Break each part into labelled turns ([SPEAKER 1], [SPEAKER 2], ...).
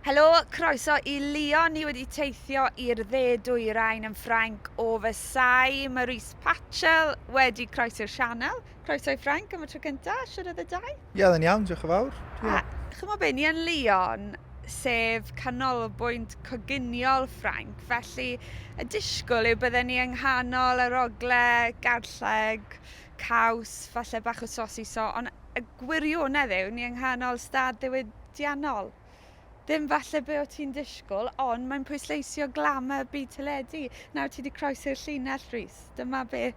[SPEAKER 1] Helo, croeso i Lyon, ni wedi teithio i'r dde dwyrain yn Ffrainc o fy sai, Maurice Patchell wedi croesi'r sianel. Croeso i Ffrainc am y tro cynta, shwd oedd y daith? Ie oedd e'n iawn, diolch yn
[SPEAKER 2] fawr. Ie. A chimo be, ni
[SPEAKER 1] yn Lyon, sef canolbwynt coginiol Ffrainc, felly y disgwl yw bydden ni yng nghanol yr ogle, garlleg, caws, falle bach o sosiso, ond y gwirionedd yw ni yng nghanol stad ddiwydiannol. Ddim falle be o ti'n disgwyl, ond mae'n pwysleisio glamour byd teledu. Nawr ti wedi croesi'r llinell, Rhys. Dyma be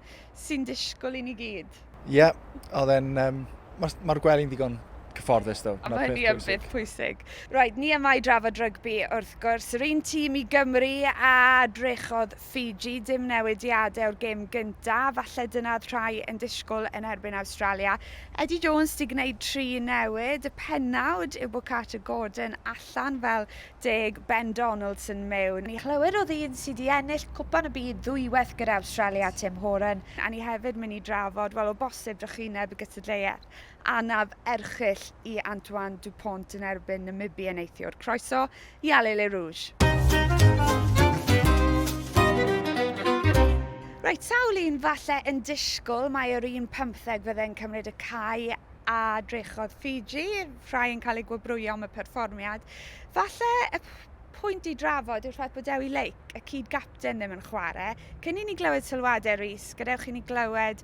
[SPEAKER 1] sy'n disgwyl i ni gyd. Ie, yeah, oedd
[SPEAKER 2] e'n... Um, Mae'r ma gwely'n ddigon cyfforddus, ddo. A mae hynny yn beth
[SPEAKER 1] pwysig. Right, ni yma i drafod rygbi, wrth gwrs. Yr un tîm i Gymru a drechodd Fiji, dim newidiade o'r gêm gynta, falle dyna oedd rhai yn disgwyl yn erbyn Awstralia. Eddie Jones 'di gwneud tri newid, y pennawd yw bod Carter Gordon allan fel deg, Ben Donaldson mewn. Ni chlywir o ddyn sy 'di ennill Cwpan y Byd ddwywaith gyda Awstralia, Tim Horan. A ni hefyd mynd i drafod, wel o bosib drychineb y gystadleuaeth. anaf erchyll i Antoine Dupont yn erbyn Namibia neithiwr. Croeso i Allez les Rouges! Reit, sawl un falle yn disgwyl mae yr un pymtheg fydde'n cymryd y cae a drechodd Fiji, rhai yn cael eu gwobrwyo am y perfformiad. Falle y pwynt i drafod yw rhaid bod Dewi Lake, y cyd-gapten ddim yn chwarae. Cyn i ni glywed sylwadau Rhys, gadewch i ni glywed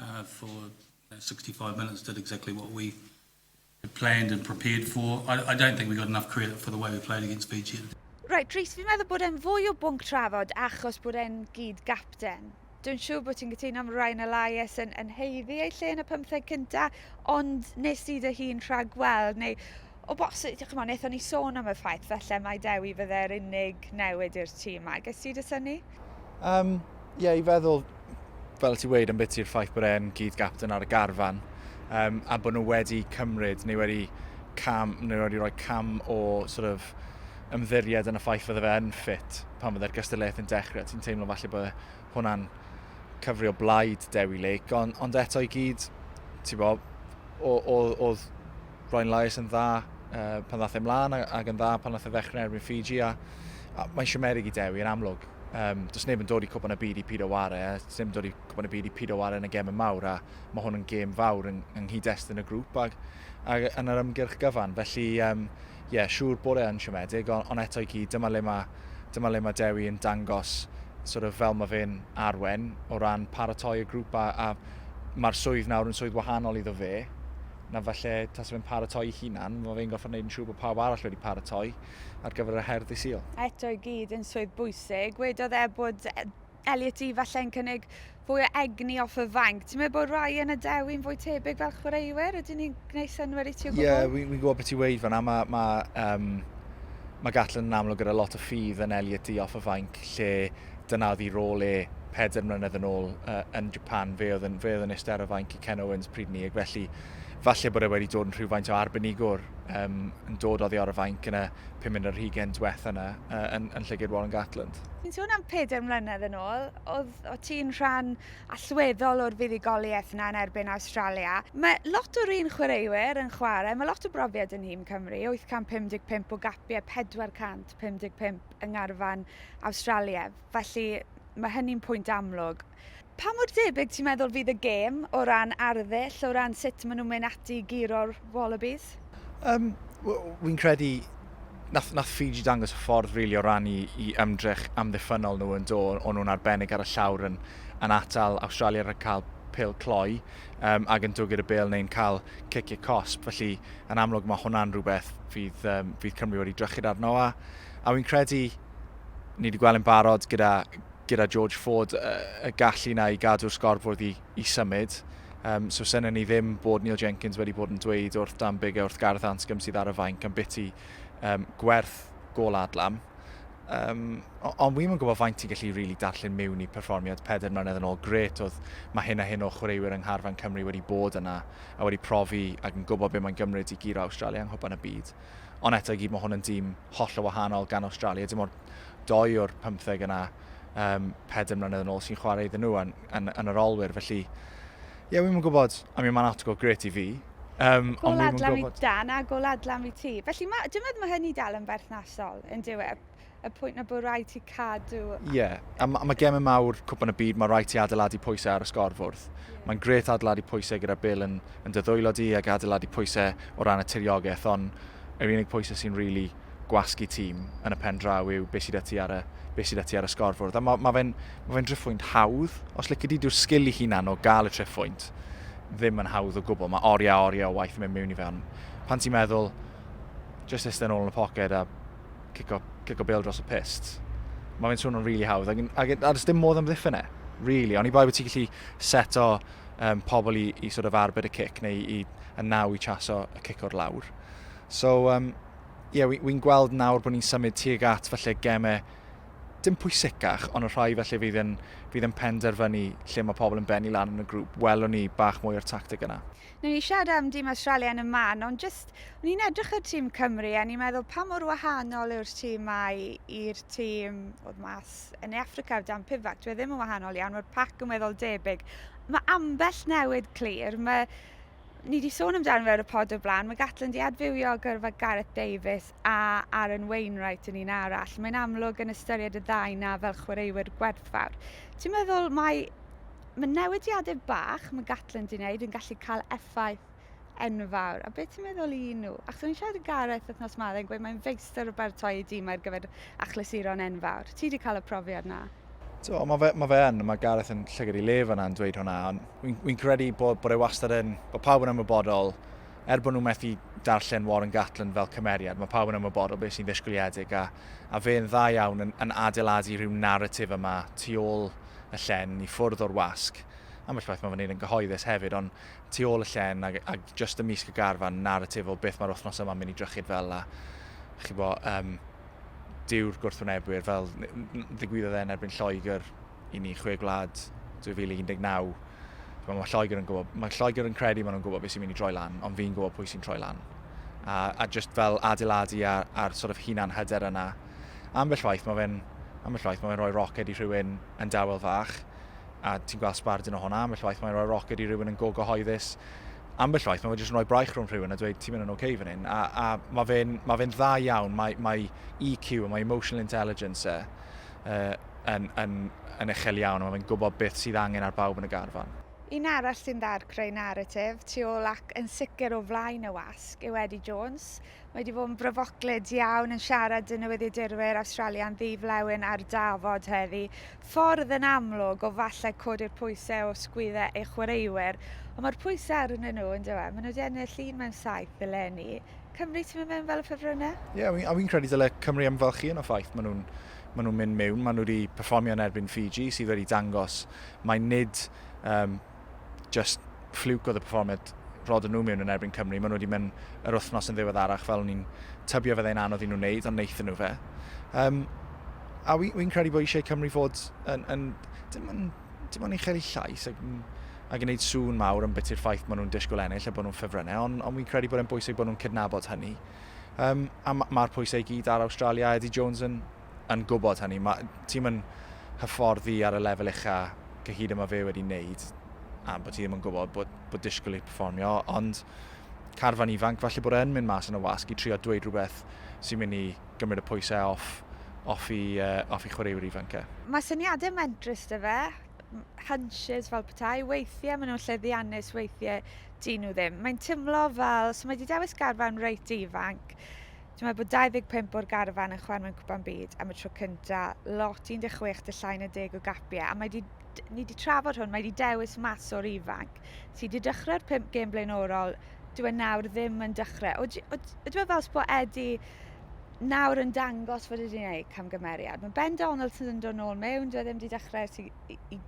[SPEAKER 3] uh, for you know, 65 minutes did exactly what we had planned and prepared for. I, I don't think we got enough credit for the way we played against Fiji. Right, Rhys, fi'n
[SPEAKER 1] meddwl bod e'n fwy o bwnc trafod achos bod e'n gyd gapten. Dwi'n siŵr bod ti'n gytuno am Ryan Elias yn, yn heiddi ei lle yn y pymtheg cynta, ond nes ti dy hun rhag gweld, neu O bosib, dioch yn fawr. Wnaethon ni sôn am y ffaith falle mai Dewi fydde'r unig newid i'r tîm yma. Ges ti dy synnu? Um,
[SPEAKER 2] ie, yeah, i feddwl, fel ti weid, am beth i'r ffaith bod e'n gyd gapten ar y garfan, um, a bod nhw wedi cymryd neu wedi cam, neu wedi rhoi cam o sort of, ymddiried yn y ffaith fydde fe yn ffit pan fydde'r gystadleuaeth yn dechrau. Ti'n teimlo falle bod e hwnna'n cyfrio blaid Dewi Lake, ond, ond eto i gyd, ti'n bod, oedd Roedd Lais yn dda uh, pan ddath e mlaen ac yn dda pan ddath e ddechrau erbyn Fiji a, a mae'n siwmerig i Dewi yn amlwg. Um, does neb yn dod i cwpan y byd i Pido Ware, a does neb yn dod i cwpan y byd i Pido Ware yn y gem y mawr, a mae hwn yn gem fawr yng, yng nghyd-destun y grŵp ac, ac yn yr ymgyrch gyfan. Felly, ie, um, yeah, siŵr bod e'n siomedig, ond on eto i gyd, dyma le mae, dyma le mae Dewi yn dangos sort of, fel mae fe'n arwen o ran paratoi y grŵp a, a mae'r swydd nawr yn swydd wahanol iddo fe, na falle tas fe'n paratoi'i hunan, mae fe'n gorfod gwneud yn siŵr bod pawb arall wedi paratoi ar gyfer y her ddydd Sul. Eto i gyd yn swydd
[SPEAKER 1] bwysig. Wedodd e bod Elliot i falle'n cynnig fwy o egni off y fanc. Ti'n meddwl bod Ryan a Dewi'n fwy tebyg fel chwaraewyr? Ydyn ni'n gwneud synwyr i ti o gwbl? Ie, yeah, fi'n fi gwybod beth ti'n weid
[SPEAKER 2] fanna. Mae ma, um, ma Gatlin yn amlwg gyda lot o ffydd yn Elliot i off y fanc lle Dyna oedd ei rôl e pedwar mlynedd yn ôl uh, yn Japan. Fe oedd yn, fe oedd yn eistedd ar y fainc i Ken Owens pryd ni, ac felly falle bod e wedi dod yn rhywfaint o arbenigwr um, yn dod oddi ar y fainc yn y pum yn yr hugen diwetha yna uh, yn, yn llygyd Warren Gatland. Ti'n sôn am pedwar
[SPEAKER 1] mlynedd yn ôl, oedd o ti'n rhan allweddol o'r fuddugoliaeth yna yn erbyn Australia. Mae lot o'r un chwaraewyr yn chwarae, mae lot o brofiad yn nhîm Cymru, 855 o gapiau, 455 yng ngharfan Awstralia, felly mae hynny'n pwynt amlwg. Pa mor debyg ti'n meddwl fydd y gêm o ran arddull, o ran sut maen nhw'n mynd ati i guro'r Wallabies? Um,
[SPEAKER 2] Wy'n credu nath, nath Fiji dangos y ffordd really, o ran i, i ymdrech amddiffynol nhw yn do, o'n nhw'n arbennig ar y llawr yn, yn atal Australia rhag cael pil cloi um, ac yn dwgyd y bel neu'n cael ciciau cosp. Felly, yn amlwg, mae hwnna'n rhywbeth fydd, um, fydd Cymru wedi drychyd arno a A fi'n credu, ni wedi gweld yn barod gyda, gyda George Ford y gallu na i gadw'r sgorbwrdd i, i symud. Um, so syna ni ddim bod Neil Jenkins wedi bod yn dweud wrth Dan Bigger, wrth Gareth Anscombe sydd ar y fainc am biti um, gwerth gol adlam. Um, ond wi'n yn gwybod faint ti'n gallu rili really darllen mewn i perfformiad peder mlynedd yn ôl. Gret oedd mae hyn a hyn o chwaraewyr yng Ngharfan Cymru wedi bod yna a wedi profi ac yn gwybod beth mae'n gymryd i giro Australia yng Nghwpan y Byd. Ond eto i gyd mae hwn yn dîm holl o wahanol gan Australia. Dim ond doi o'r pymtheg yna um, pedr mlynedd yn ôl sy'n chwarae iddyn nhw yn, yn, yn yr olwyr. Felly, ie, yeah, wi'n gwybod, I mean, mae'n outgo gret i fi. Um, gol
[SPEAKER 1] adlam i dan a gol adlam i ti. Felly, mae, dwi'n meddwl mae hynny dal yn berthnasol yn diwedd. y pwynt na bod rhaid ti cadw... Ie, yeah. a mae
[SPEAKER 2] ma gemau mawr cwpan y byd, mae rhaid ti adeiladu pwysau ar y sgorfwrdd. Yeah. Mae'n gret adeiladu pwysau gyda Bill yn, yn dyddwylo di ac adeiladu pwysau o ran y tiriogaeth, ond yr unig pwysau sy'n rili really gwasgu tîm yn y pen draw yw beth sydd â ti ar y, beth sydd â ti ar y sgorfwrdd. A mae ma fe'n ma fe driffwynt hawdd, os lyci di, dyw'r sgil i hunan o gael y triffwynt ddim yn hawdd o gwbl. Mae oriau, oriau o waith yn mynd mewn i fe, ond pan ti'n meddwl, just eistedd yn ôl yn y poced a cico, cico bêl dros y pist. Mae fe'n swnio'n rili really hawdd, ac, ac, ac dim modd amddiffyn e, really. Ond i bai bod ti'n gallu seto um, pobl i, i sort of arbed y cic, neu i, y naw i chaso y cic o'r lawr. So, um, yeah, wy'n wi gweld nawr bod ni'n symud tuag at falle gemau dim pwysicach, ond y rhai felly fydd yn, fydd yn penderfynu lle mae pobl yn benni lan yn y grŵp, welwn ni bach mwy o'r tactig yna. Newn ni siarad am dîm
[SPEAKER 1] Awstralia yn y man, ond jyst, o'n i'n edrych ar tîm Cymru a ni'n meddwl pa mor wahanol yw'r tîm mae i'r tîm oedd mas yn Africa o dan Pivac. Dwi e ddim yn wahanol iawn, mae'r pac yn weddol debyg. Mae ambell newid clir, mae ni wedi sôn amdano fe ar y pod o blaen, mae Gatlin wedi adfywio gyrfa Gareth Davies a Aaron Wainwright yn un arall. Mae'n amlwg yn ystyried y ddau na fel chwaraewyr gwerthfawr. Ti'n meddwl mae Mae newidiadau bach mae Gatland yn neud yn gallu cael effaith enfawr. A beth ti'n meddwl i nhw? Ac o'n i'n siarad i Gareth wythnos ma, oedd e'n gweud mae'n feistr o baratoi ei dîm ar gyfer achlysuron enfawr. Ti wedi cael y profiad na? So, mae fe, ma fe
[SPEAKER 2] yn, mae Gareth yn llygad i lef yna yn dweud hwnna, ond wy'n wy credu bod, bod e wastad yn, bod pawb yn ymwybodol, er bod nhw'n methu darllen Warren Gatland fel cymeriad, mae pawb yn ymwybodol beth sy'n ddisgwyliedig, a, a fe'n dda iawn yn, yn adeiladu rhyw narratif yma tu ôl y llen i ffwrdd o'r wasg. Ambell waith mae fy nyn yn gyhoeddus hefyd, ond tu ôl y llen ag, ag just ymysg y garfan naratif o beth mae'r wythnos yma'n mynd i drychyd fel a chi bo, um, dyw'r gwrthwynebwyr fel ddigwyddodd e yn erbyn Lloegr i ni chwe gwlad 2019. Mae Lloegr yn gwybod, mae Lloegr yn credu maen nhw'n gwybod beth sy'n mynd i droi lan, ond fi'n gwybod pwy sy'n troi lan. A, a just fel adeiladu ar, ar sort of hunan hyder yna, ambell waith mae fe'n ambell waith mae fe'n rhoi roced i rhywun yn dawel fach a ti'n gweld sbardun o hwnna, ambell waith mae'n rhoi roced i rhywun yn go gyhoeddus ambell waith mae fe jyst yn rhoi braich rhwng rhywun a dweud ti'n mynd yn oce okay fan hyn a, a mae fe'n ma fe dda iawn mae, mae EQ a mae emotional intelligence e, uh, yn, yn, yn uchel iawn a mae fe'n gwybod beth sydd angen ar bawb yn y garfan. Un arall sy'n
[SPEAKER 1] dda'r creu naratif tu ôl ac yn sicr o flaen y wasg yw Eddie Jones. Mae wedi bod yn bryfoclyd iawn yn siarad â newyddiadurwyr Awstralian ddi-flewyn ar dafod heddi. Ffordd yn amlwg o falle codi'r pwysau o sgwyddau ei chwaraewyr, ond mae'r pwysau arnyn nhw, yn dywe. Maen nhw wedi ennill un mewn saith eleni. Cymru, ti'n mynd mewn fel y ffefrynnau? Ie, yeah, a fi'n credu dyle
[SPEAKER 2] Cymru ymfalchio yn y ffaith maen nhw'n maen nhw'n mynd mewn. Maen nhw wedi perfformio yn erbyn Fiji, sydd wedi dangos mai nid um, just ffliwc oedd y perfformiad roedden nhw mewn yn erbyn Cymru. Maen nhw wedi mynd yr wythnos yn ddiweddarach fel ni'n tybio fe ddeu'n anodd i nhw wneud, ond wnaethon nhw fe. Um, a wy'n wy credu bod eisiau Cymru fod yn, yn dim ond dim ond uchel i llais ac, ac yn gwneud sŵn mawr yn bit i'r ffaith maen nhw'n disgwyl ennill a bod nhw'n ffefrynnau, ond, ond wy'n credu bod e'n bwysig bod nhw'n cydnabod hynny. Um, a mae'r pwysau i gyd ar Australia, Eddie Jones yn, yn gwybod hynny. Ti'm yn hyfforddi ar y lefel ucha cyhyd yma fe wedi wneud a bod ti ddim yn gwybod bod, bod disgwyl i performio, ond carfan ifanc falle bod e'n mynd mas yn y wasg i trio dweud rhywbeth sy'n mynd i gymryd y pwysau off, off, i, uh, off i chwaraewyr ifanc e. Mae syniadau
[SPEAKER 1] mentrus dy fe, hunches fel petai, weithiau maen nhw'n llyddiannus, weithiau dyn nhw ddim. Mae'n timlo fel, so mae wedi dewis garfan reit ifanc, Ti'n meddwl bod 25 o'r garfan yn chwarae mewn cwpan byd am y tro cynta, lot 16 dy llai na deg o gapiau, a mae di, ni wedi trafod hwn, mae wedi dewis mas o'r ifanc. Ti wedi dechrau'r 5 gêm blaenorol, dwi e nawr ddim yn dechrau. O, o, o, o, fel sbo Eddie nawr yn dangos fod wedi gwneud camgymeriad. Mae Ben Donald sydd yn dod nôl mewn, dwi e ddim wedi dechrau i, i, i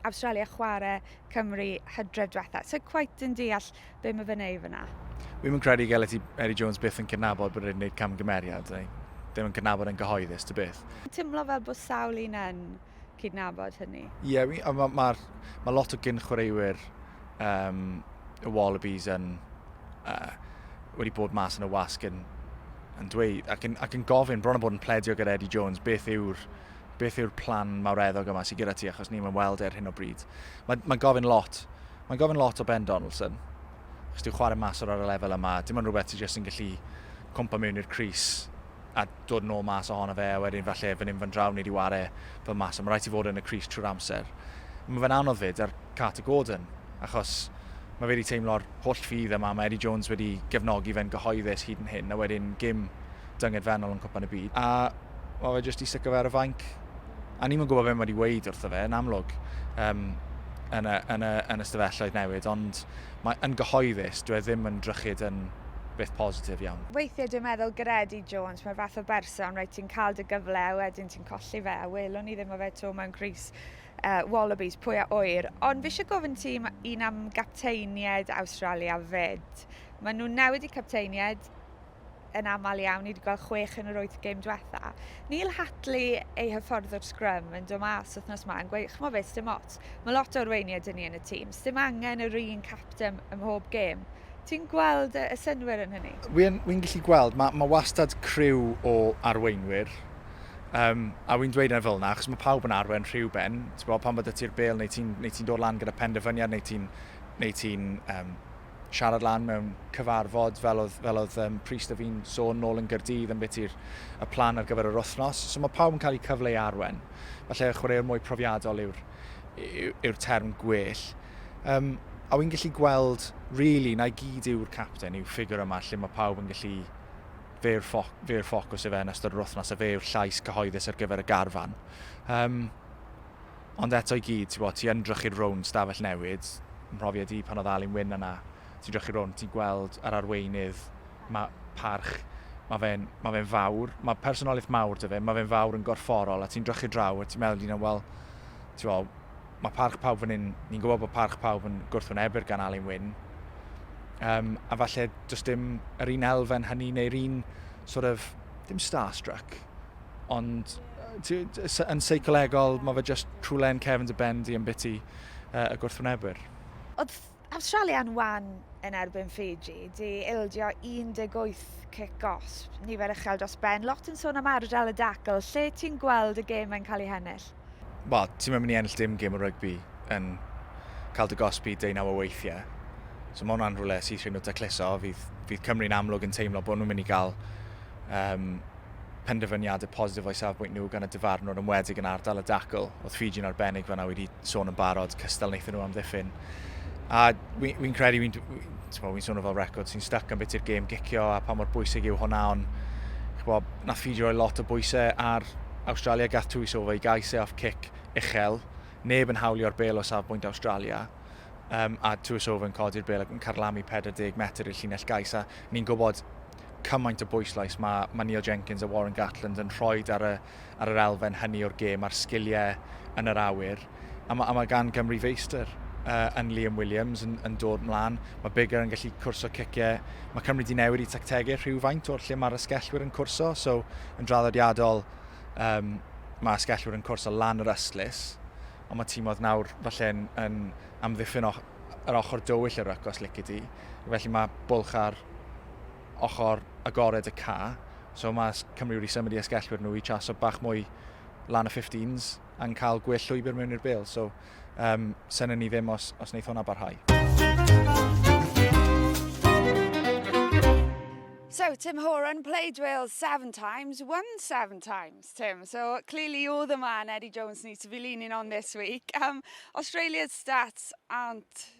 [SPEAKER 1] Australia chwarae Cymru hydref diwetha. So quite yn deall Be mae fe'n ei fyna? Wi'm yn credu gael
[SPEAKER 2] ti Eddie Jones byth yn cydnabod bod wedi gwneud camgymeriad, neu ddim yn cydnabod yn gyhoeddus, dy byth. Timlo fel bod sawl
[SPEAKER 1] un yn cydnabod hynny. Ie, yeah, mae ma, ma,
[SPEAKER 2] ma lot o gyn chwaraewyr um, y Wallabies yn uh, wedi bod mas yn y wasg yn, yn dweud ac yn, ac yn gofyn bron o bod yn pledio gyda Eddie Jones beth yw'r beth yw'r plan mawreddog yma sydd gyda ti achos ni'n weld e ar hyn o bryd. Mae'n mae gofyn lot Mae'n gofyn lot o Ben Donaldson, achos dyw chwarae maswr ar y lefel yma, dim ond rhywbeth ti jyst yn gallu cwmpa mewn i'r crys a dod yn ôl mas ohono fe, a wedyn falle fan hyn fan draw ni di ware fel maswr, mae rhaid ti fod yn y crys trwy'r amser. Mae fe'n anodd fyd ar Carter Gordon, achos mae fe wedi teimlo'r holl ffydd yma, mae Eddie Jones wedi gefnogi fe'n gyhoeddus hyd yn hyn, a wedyn gym dyngedfennol yn Cwpan y Byd, a mae fe jyst i sticio fe ar y fainc. a ni'm yn gwybod beth mae wedi weid wrtho fe, yn amlwg, um, yn, y, yn, y, yn y stafelloedd newid, ond mae yn gyhoeddus, dwi e ddim yn drychyd yn beth positif iawn. Weithiau dwi'n meddwl
[SPEAKER 1] Gredi Jones, mae'r fath o berson, rhaid ti'n cael dy gyfle a wedyn ti'n colli fe, a welwn ni ddim o fe to mewn Cris uh, Wallabies, pwy a oer. Ond fi eisiau gofyn ti un am gapteiniaid Awstralia fed. Maen nhw newid i capteiniaid, yn aml iawn, ni wedi gweld chwech yn yr wyth gêm diwetha. Neil Hatley ei hyffordd o'r sgrym yn dod mas wythnos ma yn gweud, chmo fe, sdim ots, mae lot o arweiniau dyn ni yn y tîm, sdim angen yr un capten ym mhob gêm. Ti'n gweld y synwyr yn hynny? Wy'n wy gallu gweld,
[SPEAKER 2] mae, mae wastad criw o arweinwyr, um, a wy'n dweud yna fel yna, achos mae pawb yn arwen rhyw ben, ti'n bod, pan bod y ti'r bel, neu ti'n ti dod lan gyda penderfyniad, neu ti'n neu ti um, siarad lan mewn cyfarfod fel oedd, fel oedd um, Priest a fi'n sôn nôl yn Gyrdydd yn beth i'r y plan ar gyfer yr wythnos. So mae pawb yn cael eu cyfle i arwen. Felly chwaraewr mwy profiadol yw'r yw, yw term gwell. Um, a wy'n gallu gweld, really, na i gyd yw'r captain, yw ffigur yma lle mae pawb yn gallu fe'r, ffoc, fe'r ffocws efe yn ystod yr wythnos a fe yw'r llais cyhoeddus ar gyfer y garfan. Um, Ond eto i gyd, tibod, ti yn drychu'r rownd stafell newid, mhrofiad i pan oedd Alun Wyn yna, ti'n drychu'r rownd, ti'n gweld yr arweinydd, mae parch, mae fe'n ma fe fawr, mae personoliaeth mawr dy fe, mae fe'n fawr yn gorfforol, a ti'n drychu draw, a ti'n meddwl dyn nhw, wel, ti'n mae parch pawb fan hyn, ni'n gwybod bod parch pawb yn gwrthwynebu'r gan Alun Wyn, um, a falle does dim yr un elfen hynny neu'r un sort of, dim starstruck, Ond yn seicolegol, mae fe just rhywle yn cefn dy ben di yn biti uh, y gwrthwynebwyr. Oedd
[SPEAKER 1] Awstralia'n wan yn erbyn Fiji, di ildio 18 cic gosb, nifer uchel dros ben, lot yn sôn am ardal y dacl, lle ti'n gweld y gêm yn cael ei hennill? Wel, ti ddim yn
[SPEAKER 2] mynd i ennill dim gêm o rygbi yn cael dy gosbi deunaw o weithiau. So mae hwnna'n rhywle sydd rhywun o dacluso. Fydd, fydd Cymru'n amlwg yn teimlo bod nhw'n mynd i gael um, penderfyniadau positif o'i safbwynt nhw gan y dyfarnwr ymwedig yn ardal y dacl. Oedd Fiji'n arbennig fanna wedi sôn yn barod, cystal wnaethon nhw amddiffyn. A fi'n fi credu, fi'n fi swnio fel record, sy'n stuck am beth i'r gêm gicio a pa mor bwysig yw hwnna, ond chwa, na fi roi lot o bwysau ar Australia gath twy sofa i gais e off cic uchel, neb yn hawlio'r bel o safbwynt Australia, um, a twy sofa yn codi'r bel ac yn carlamu 40 metr i'r llinell gais, a ni'n gwybod cymaint o bwyslais mae, mae Neil Jenkins a Warren Gatland yn rhoi ar y ar yr elfen hynny o'r gêm a'r sgiliau yn yr awyr. A mae, a mae gan Gymru feistr uh, yn Liam Williams yn, yn dod mlaen. Mae Bigger yn gallu cwrso ciciau. Mae Cymru di newid i tactegau rhywfaint o'r lle mae'r ysgellwyr yn cwrso. So, yn draddodiadol, um, mae ysgellwyr yn cwrso lan yr ystlus. Ond mae tîmodd nawr falle yn, yn amddiffyn yr ochr dywyll yr ryc os lici di. Felly mae bwlch ar ochr agored y ca. So mae Cymru wedi symud i esgellwyr nhw i chaso bach mwy lan y 15s a'n cael gwell llwybr mewn i'r bel. So um, sy'n ni ddim os, os wneud hwnna barhau.
[SPEAKER 1] So Tim Horan played Wales seven times, won seven times, Tim. So clearly you're the man Eddie Jones needs to be leaning on this week. Um, Australia's stats aren't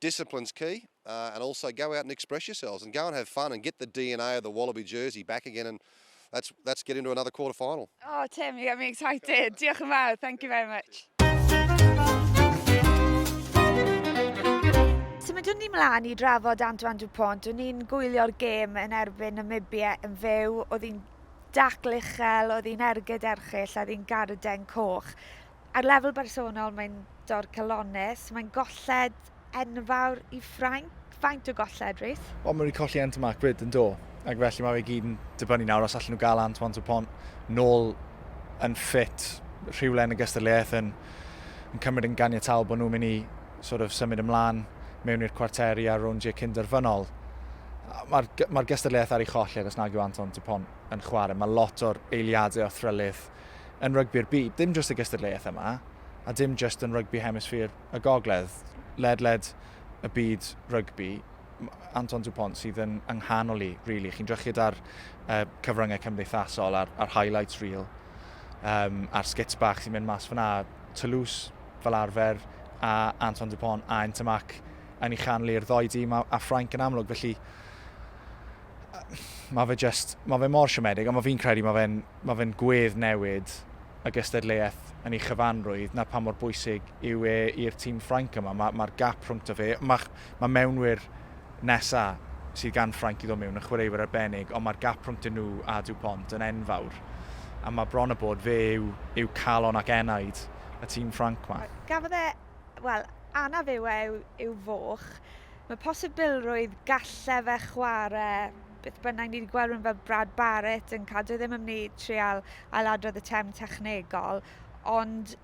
[SPEAKER 4] Discipline's key uh, and also go out and express yourselves and go and have fun and get the DNA of the Wallaby jersey back again and that's, that's get into another quarter final. Oh Tim, you got me
[SPEAKER 1] excited. Diolch yn fawr, thank you very much. Symudwn ni mlaen i drafod Antoine Dupont. O'n i'n gwylio'r gêm yn erbyn Namibia yn fyw. Oedd hi'n dacl uchel, oedd hi'n ergyd erchill, oedd hi'n garden coch. Ar lefel bersonol, mae'n dorf calonnus, mae'n golled enfawr i Ffrainc. Faint o golled, Rhys? Wel, mae wedi colli Ant Marc
[SPEAKER 2] bryd yn do, ac felly mae fe gyd yn dibynnu nawr os allan nhw gael Ant Ant y Pont nôl yn ffit rhywle yn y gystadleuaeth yn, yn cymryd yn ganiataol bod nhw'n mynd i sort of, symud ymlaen mewn i'r cwarteri a'r rowndiau cynderfynol. Mae'r mae gystadleuaeth ar ei cholled os nag yw Anton Dupont yn chwarae. Mae lot o'r eiliadau o thrylith yn rygbi'r byd, dim jyst y gystadleuaeth yma, a dim jyst yn rygbi hemisffîr y gogledd, ledled y byd rygbi, Anton Dupont sydd yn ynghanol i, really. Chi'n drychyd ar uh, cyfryngau cymdeithasol, ar, ar highlights reel, um, ar skits bach sy'n mynd mas fyna, Toulouse fel arfer, a Anton Dupont a Entamac yn ei chanlu'r ddoi dîm a, a Ffrainc yn amlwg, felly mae fe just, mae fe mor siomedig, ond mae fi'n credu mae fe'n Mae fe'n gwedd newid y gystadleuaeth yn ei chyfanrwydd 'na pa mor bwysig yw e i'r tîm Ffrainc yma. Mae mae'r gap rhwngto fe, mae mae mewnwyr nesa' sydd gan Ffrainc i ddod mewn yn chwaraewyr arbennig ond mae'r gap rhwngto nhw a Dupont yn enfawr a mae bron a bod fe yw yw calon ac enaid y tîm Ffrainc 'ma. Gafodd e,
[SPEAKER 1] wel, anaf yw e yw yw foch. Mae posibilrwydd galle fe chware beth bynnag. Ni 'di gweld rhywun fel Brad Barritt yn cael... Dyw e ddim yn mynd i trial ailadrodd y term technegol ond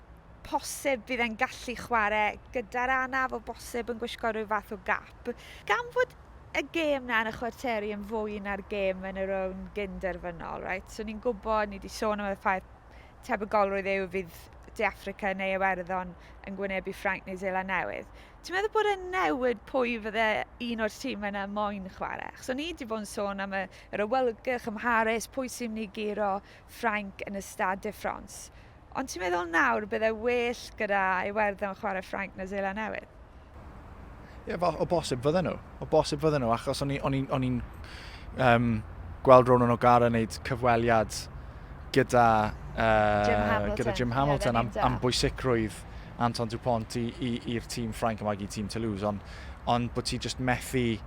[SPEAKER 1] posib bydd e'n gallu chware gyda'r anaf o bosib yn gwisgo rhyw fath o gap. Gan fod y gêm 'na yn y chwarteri yn fwy na'r gêm yn y rownd gyn-derfynol reit so ni'n gwybod, ni 'di sôn am y ffaith tebygolrwydd yw fydd De Affrica neu Iwerddon yn gwynebu Ffrainc neu Zeland Newydd. Ti'n meddwl bod e'n newid pwy fydde un o'r tîm yna moyn chwarae? Achos o'n i wedi bod yn sôn am y, yr awelgych ym Mharis, pwy sy'n mynd i guro Ffrainc yn y Stade de France. Ond ti'n meddwl nawr bydde well gyda Iwerddon chwarae Ffrainc na Zeland Newydd? Ie, yeah,
[SPEAKER 2] o bosib fydden nhw. O bosib fydden nhw, achos o'n i'n um, gweld Ronan O'Gara wneud cyfweliad gyda, uh, Jim Hamilton, gyda Jim Hamilton yeah, am, am bwysicrwydd Anton Dupont i'r tîm Ffrainc yma i tîm Toulouse, ond on bod ti just methu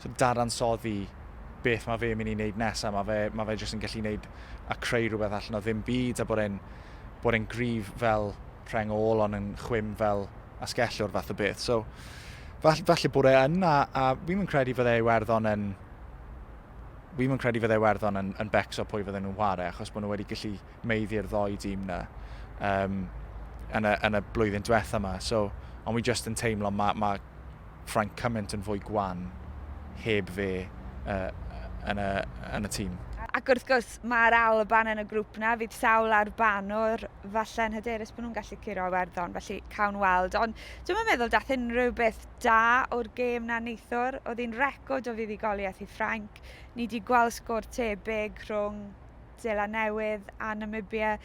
[SPEAKER 2] so, dadansoddi beth mae fe'n mynd i wneud nesaf, mae fe, ma fe jyst yn gallu wneud a creu rhywbeth allan o ddim byd a bod e'n bod e'n grif fel rheng ôl ond yn chwim fel asgellu o'r fath o beth. So, falle, falle bod e yn, a, a fi'n yn credu fydde Iwerddon yn... Fi'n yn credu fydde Iwerddon yn, yn becso pwy fydden nhw'n ware, achos bod nhw wedi gallu meiddi'r ddoi dîm na um, yn, y, yn y blwyddyn diwetha yma. So, ond fi just yn teimlo mae ma francament yn fwy gwan heb fe yn y tîm. Ac wrth gwrs,
[SPEAKER 1] mae'r Alban yn y grŵp 'na, fydd sawl ar banwr falle'n hyderus bod nhw'n gallu curo Iwerddon, felly cawn weld. Ond dwi'm yn meddwl daeth unrhyw beth da o'r gêm 'na neithiwr, oedd hi'n record o fuddugoliaeth i Ffrainc. Ni 'di gweld sgôr tebyg rhwng Seland Newydd a Namibia.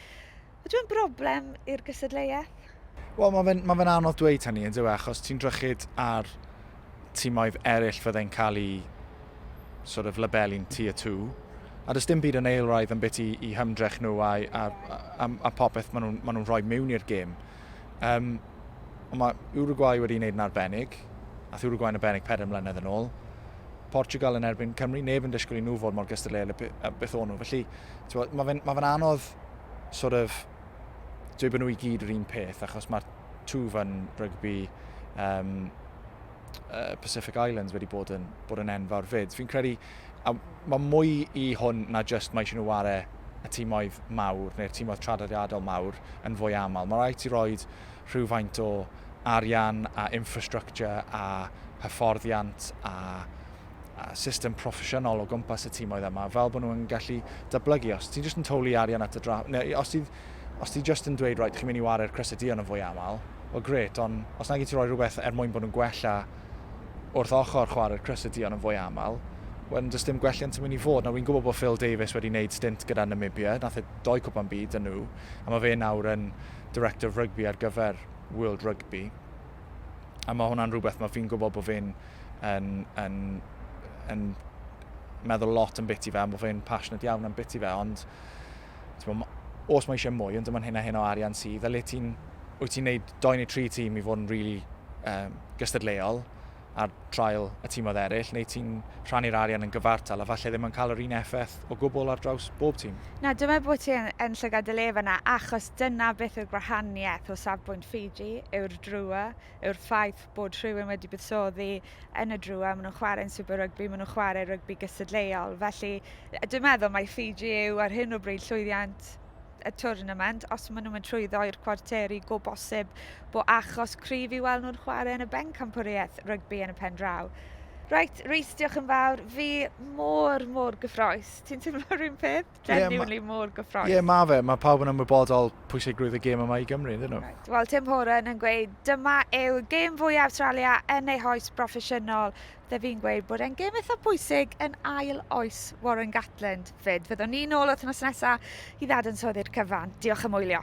[SPEAKER 1] Ydyw e'n broblem i'r gysadleuaeth? Wel,
[SPEAKER 2] mae fe'n ma fe anodd dweud hynny, yn dweud, achos ti'n drychyd ar timoedd eraill fydde'n cael ei sort of labelu'n tier 2, a does dim byd yn eilraidd yn beth i, i hymdrech nhw a, a, a, a popeth maen nhw'n ma nhw rhoi mewn i'r gêm. Um, ond mae Uruguay wedi gwneud yn arbennig, a Uruguay yn arbennig 4 mlynedd yn ôl. Portugal yn erbyn Cymru, neb yn disgwyl i nhw fod mor gystadleuol beth o'n nhw. Felly, Mae fe'n ma fe anodd sort of, dweud bod nhw i gyd yr un peth, achos mae'r two fan rygbi um, uh, Pacific Islands wedi bod yn, bod yn enfawr fyd. Fi'n credu, a mae mwy i hwn na just mae eisiau nhw ware y tîmoedd mawr neu'r tîmoedd traddodiadol mawr yn fwy aml. Mae rhaid i roed rhywfaint o arian a infrastructure a hyfforddiant a a system proffesiynol o gwmpas y tîmoedd yma, fel bod nhw'n gallu dyblygu. Os ti'n just yn towlu arian at y dra... Neu, os ti'n os ti just yn dweud, right, chi'n mynd i ware'r crysau dion yn fwy aml, o gret, ond os nag i ti roi rhywbeth er mwyn bod nhw'n gwella wrth ochr chwarae'r crysau dion yn fwy aml, wedyn does dim gwelliant yn mynd i fod. Nawr, fi'n gwybod bod Phil Davies wedi wneud stint gyda Namibia, nath e doi cwpan byd yn nhw, a mae fe nawr yn director of rugby ar gyfer World Rugby. A mae hwnna'n rhywbeth mae fi'n gwybod bod fi'n yn, yn, yn meddwl lot yn biti fe, am bod fi'n passionate iawn yn biti fe, ond bod, os mae eisiau mwy, ond dyma'n hyn a hyn o arian sydd, a le ti'n, wyt ti'n neud 2 neu 3 tîm i fod yn really um, gystadleuol, ar draul y tîmoedd eraill, neu ti'n rhannu'r arian yn gyfartal a falle ddim yn cael yr un effaith o gwbl ar draws bob tîm? Na, dwi'n meddwl bod ti yn,
[SPEAKER 1] yn llygad dy le fanna, achos dyna beth yw'r gwahaniaeth o safbwynt Fiji, yw'r drua, yw'r ffaith bod rhywun wedi buddsoddi yn y drua, maen nhw'n chwarae'n Super Rugby, maen nhw'n chwarae rygbi gystadleuol. Felly, dwi'n meddwl mai Fiji yw ar hyn o bryd llwyddiant y twrnament os maen nhw'n mynd trwyddo i'r cwarteri go bosib bo achos cryf i weld nhw'n chwarae yn y bencampwriaeth rygbi yn y pen draw. Reit, Rhys, diolch yn fawr. Fi mor, mor gyffroes. Ti'n teimlo rhywun peth? Genuinely yeah, mor gyffroes. Ie, yeah, mae fe. Mae pawb yn
[SPEAKER 2] ymwybodol pwysigrwydd y gêm yma i Gymru, ydyn nhw? Right. Wel, Tim Horan yn
[SPEAKER 1] gweud, dyma yw gêm fwy Awstralia yn ei hoes broffesiynol. Dw i'n gweud bod e'n gêm eitha pwysig yn ail oes Warren Gatland. Fyd, fyddwn ni'n ôl wrth nos nesaf i ddad yn soddi'r cyfan. Diolch am wylio.